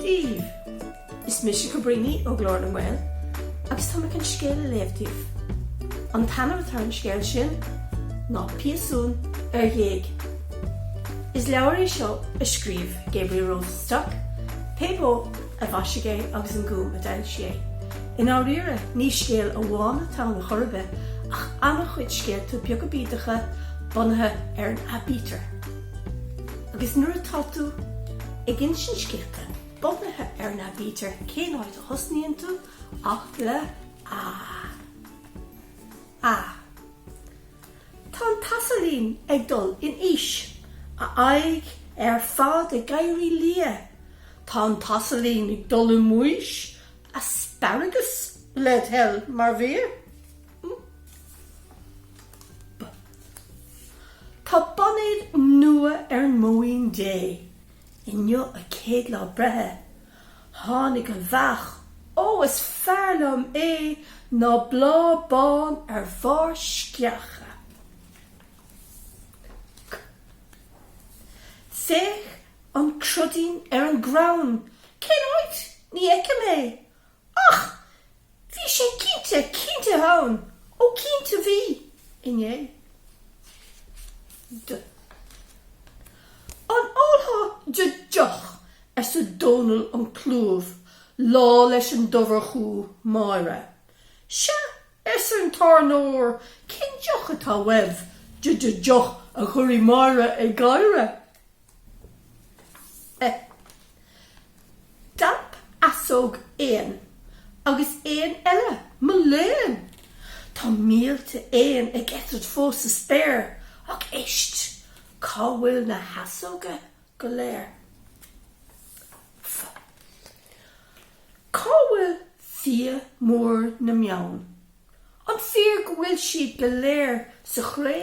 daoibh! Is mise Cabríní ó Ghlór na nGael agus tá mé chun scéal a léamh daoibh. An t-ainm atá ar an scéal sin ná Piasún ar Ghéag. Is leabhar é seo a scríobh Gabriel Rosenstock, Pébó. a mhaisigh é agus an Gúm a d'fhoilsigh é. I ndáiríre, ní scéal amháin atá ann chor ar bith ach an-chuid scéalta beaga bídeacha bunaithe ar an aibítir. Agus nuair atá tú ag insint scéalta bunaithe ar an aibítir, cén áit a thosnaíonn tú ach le A. A. Tá an t-asailín ag dul in aois, a aghaidh ar fad ag éirí liath. Tá an t-asailín ag dul i mbaois, asparagus led' thoil, mar bhia. B Tá boinéad nua ar an mbóín Dé. Inniu a céad lá breithe. Tháinig an bheach, ó is fearr liom é ná bláth bán ar bharr sceacha. Féach an cruidín ar an gcrann, cén áit? Ní fheicim é. Ach! Bhí sé cinnte, cinnte ann, ó cinnte bhí, inné. D, An ólfá d' deoch, arsa Dónall an Chlúimh, lá leis an dobharchú, Máire. Sea, arsa an tábhairneoir, cén deoch atá uaibh, d' deoch, a chuirfidh Máire ag gáire. D'alp easóg éan agus éan eile, mo léan! Tá mílte éan ag eitilt fós sa spéir, ach éist, cá bhfuil na heasóga go léir? F, Cá bhfuil fia mór na mbeann? An fíor go bhfuil siad go léir sa chré?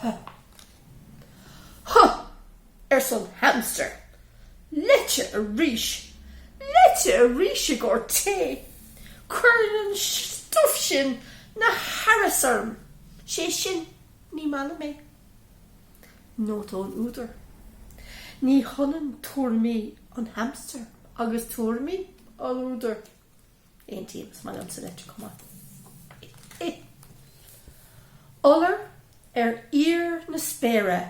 Huh. Huh! arsa an hamster. Leite arís! Leite arís i gcomhair tae! Cuireann an stuif sin na haras orm. Sé sin, ní maith liom é. Nóta ón údar, Ní hionann tuairimí an hamster agus tuairimí an údair. Aontaím, is maith liomsa leite chomh maith. Iolar ar fhíor na spéire,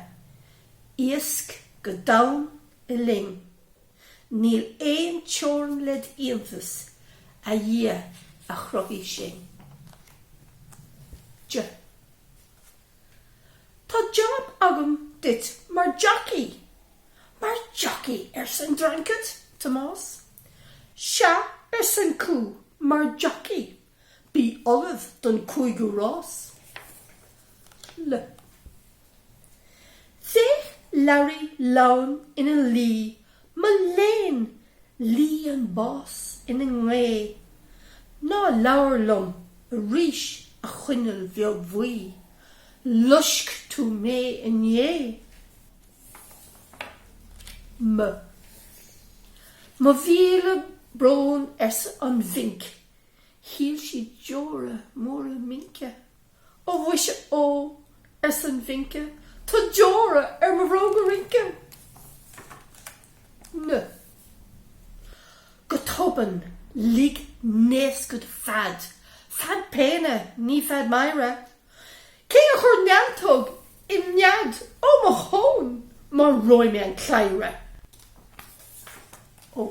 iasc go domhain i linn, níl aon teorainn led' iontas, a Dhia a chruthaigh sinn. J. Tá jab agam duit mar jacaí. Mar jacaí? arsa an dreancaid, Tomás. Sea, arsa an cú, mar jacaí. Bí ullamh don cúigiú rás. L. Féach Larry Leamhan ina luí Mo léan, lí an bháis ina ghné. Ná labhair liom arís a choinneal bheag bhuí, loisc tú mé inné. M, Mo mhíle brón arsa an mhinc, shil sí deora móra mince. Ó mhuise ó, arsa an mhince, tá deora ar mo bhróga rince! N. Go tobann, lig naoscach fead, fead péine, ní fead meidhre. Cé a chuir neantóg im nead? Ó, mo thóin! Maróidh mé an cladhaire! Ó.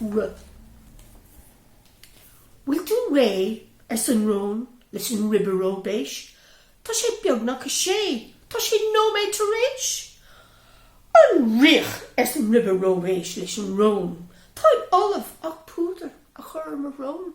R, Bhfuil tú réidh? arsa an rón leis an ribe róibéis. Tá sé beagnach a sé, tá sé nóiméad tar éis! An riach! arsa an ribe róibéis leis an rón, táim ullamh ach púdar a chur ar mo shrón.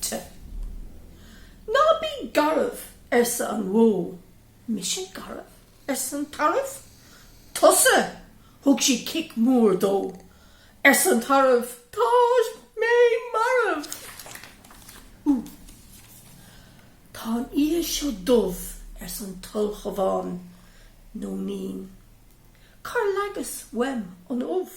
T. Ná bí garbh, arsa an bhó. Mise garbh? arsa an tarbh. Tusa! Thug sí cic mór dó. Arsa an tarbh, Tá mé marbh! Ú. Tá an oíche seo dubh, arsa an t-ulchabhán, Nóinín. Cár leagas uaim an ubh?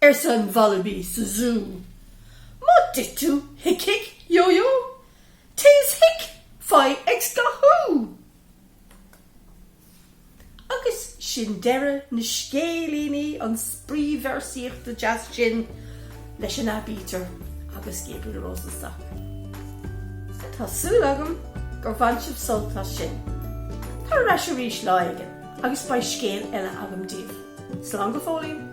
arsa an Wallaby sa zú. Má d'ith tú hic yo yo, teas hic fai x-ghathú! Agus sin deireadh na scéilíní, an spraoi véarsaíochta deas sin leis an aibítir agus Gabriel Rosenstock. Tá súil agam gur bhain sibh sult as sin. Tar ar ais arís lá éigin agus beidh scéal eile agam daoibh. Slán go fóillín!